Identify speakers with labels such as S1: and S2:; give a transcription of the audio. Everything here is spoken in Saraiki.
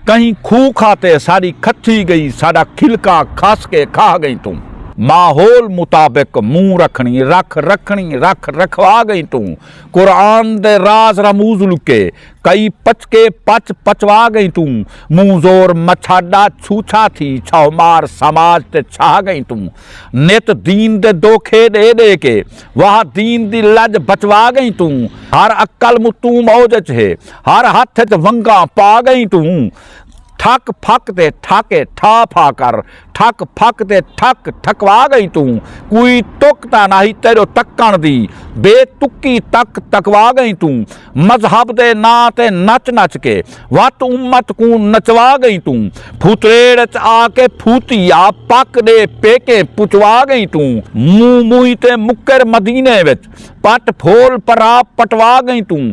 S1: کہیں کھوہ کھاتے ساݙی کھتھی ڳئی ساݙا کھلکا کھس کے کھاہ ڳئیں توں ماحول مطابق منہ رکھݨی رکھ رکھݨی رکھ رکھوا ڳئیں توں قرآن دے راز رموز لکے کئی پچکے پچ پچوا ڳئیں توں منہ زور مچھاݙا چھوچھا تھی چھہمار سماج تے چھاہ ڳئیں توں نت دین دے دوکھے ݙے ݙے کے واہ دین دی لڄ بچوا ڳئیں توں ہر عقل متوں موج اچ ہے ہر ہتھ اچ ونگاں پا گئیں توں ٹھک پھک تے ٹھاکے ٹھا پھا کر ٹھک پھک تے ٹھک ٹھکوا گئیں توں کوئی تک تاں ناہی تیڈو تکن دی بے تکی تک تکوا گئیں توں مذہب دے ناں تے نچ نچ کے وت امت کوں نچوا گئیں توں پھوتریڑ اچ آ کے پھوتی آ پک ڈے پیکیں پچوا گئیں توں منہ موئی تے مکر مدینے وچ پٹ پھول پرا پٹوا گئیں توں۔